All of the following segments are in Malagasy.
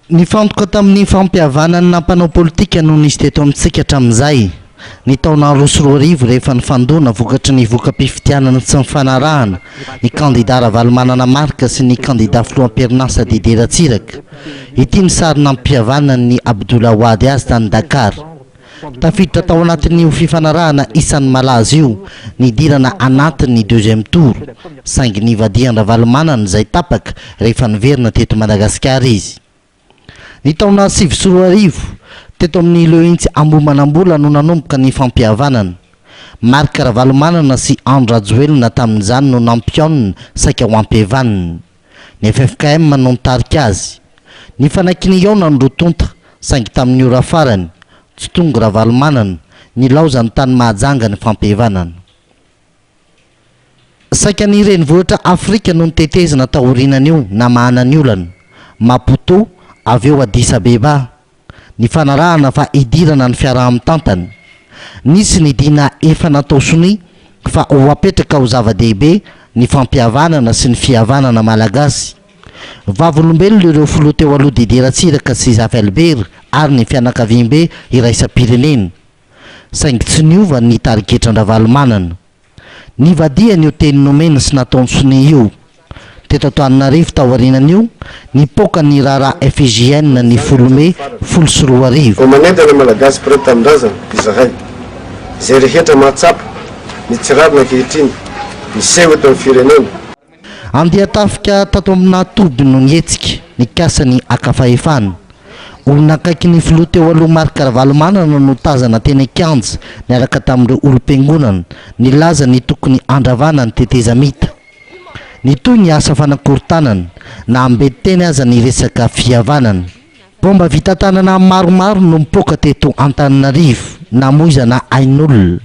Nifantoka tamin'ny fampihavanan'ny nampanao politika no nisy teto amintsika hatramin'izay, ny taona roa sy roa arivo rehefa nifandona vokatry ny voka-pifidianana tsy nifanarahana, ny kandida Ravalomanana Marc sy ny kandida filoham-perinasa Didier Ratsiraka. Ity ny sary nampihavanan'ny Abdoul Awad azy tany Dakar. Tafiditra tao anatin'io fifanarahana isan'ny malaza io ny hidirana anatin'ny deuxième tour, saingy nivadihan-dRavalomanana izay tapaka rehefa niverina teto Madagasikara izy. Ny taona sivy sy roa arivo, teto amin'ny Lehintsy Ambohimanambola no nanomboka ny fampihavanana. Marc Ravalomanana sy Andry Rajoelina tamin'izany no nampihaonina saika ho ampihavaniny. Ny ffkm no nitarika azy. Nifanakina hihaona ny roa tonta, saingy tamin'ny ora farany, tsy tonga Ravalomanana, nilaozany tany Mahajanga ny fampihevanana. Saika ny renivohitra Afrika no notetezina taorianan'io namahana ny olana, Maputo, avy eo Addis Abeba, Nifanarahana fa hidirana ny fiaraha-mitantana. Nisy ny dina efa natao sonia fa ho apetraka ho zava-dehibe ny fampihavanana sy ny fihavanana malagasy. Vavolombelona ireo filoha teo aloha Didier Ratsiraka sy Zavelbert ary ny fianakaviambe iraisam-pirenena. Saingy tsy niova ny tarigetran-dRavalomanana. Nivadihany io teny nomena sy nataony sonia io. Teto Antananarivo, taorianan'io, nipoaka ny raharaha FIJN ny folo mey folo sy roa arivo. Omaneda ny Malagasy mpiray tanindrazana izahay. Izay rehetra mahatsapa ny tsy rariny ankehitriny miseho eto amin'ny firenena. Andian-tafika tato aminà toby no nihetsika, nikasa ny haka fahefana. Olona akaikin'ny filoha teo aloha Marc Ravalomanana no tazana teny an-kianja niaraka tamin'ireo olom-piangonana, nilaza ny tokony handravana ny tetezamita. Nitohy ny asa fanakorontanana, na hambe teny aza ny resaka fihavanana. Baomba vita tanana maromaro no mipoaka teto Antananarivo, namoizana ain'olona.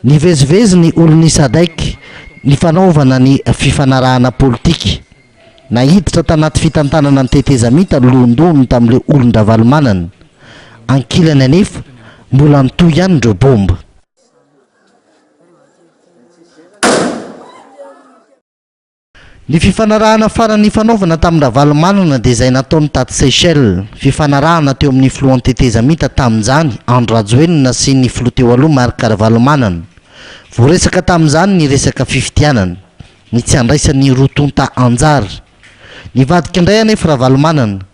Nivezivezy ny olon'i Sadec nifanaovana ny fifanarahana politika. Naiditra tanaty fitantanana ny tetezamita ny lohandohany tamin'ireo olon-dRavalomanana. Ankilany anefa, mbola nitohy ihany ireo baomba. Ny fifanarahana farany nifanaovana tamin-dRavalomanana dia izay nataony taty Seychelles. Fifanarahana teo amin'ny filohan'ny tetezamita tamin'izany, Andry Rajoelina sy ny filoha teo aloha Marc Ravalomanana. Voaresaka tamin'izany ny resaka fifidianana, ny tsy handraisan'ny roa tonta anjara. Nivadika indray anefa Ravalomanana.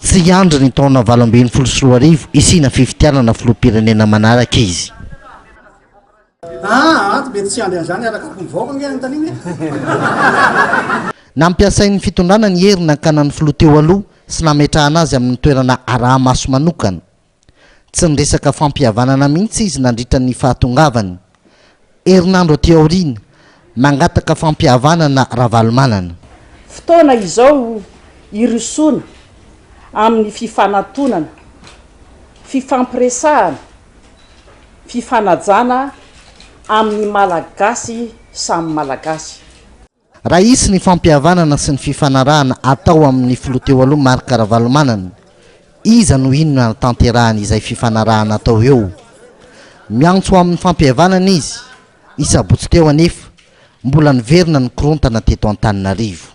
Tsy hiandry ny taona valo ambin'ny folo sy roa arivo hisiana fifidianana filoham-pirenena manaraka izy. Aa ato mety tsy hiandry an'izany araka ny vahoaka ange anontaniana e. Nampiasain'ny fitondrana ny hery nankana ny filoha teo aloha sy nametrahana azy amin'ny toerana araha-maso manokana. Tsy niresaka fampihavanana mihitsy izy nandritra ny fahatongavany. Herinandro aty aoriana, mangataka fampihavanana Ravalomanana. Fotoana izao hirosoana amin'ny fifanatonana, fifampiresahana, fifanajana amin'ny Malagasy samy Malagasy. Raha hisy ny fampihavanana sy ny fifanarahana atao amin'ny filoha teo aloha Marc Ravalomanana, iza no inona hanatanterahany izay fifanarahana atao eo? Miantso amin'ny fampihavanana izy, ny sabotsy teo anefa, mbola niverina nikorontana teto Antananarivo.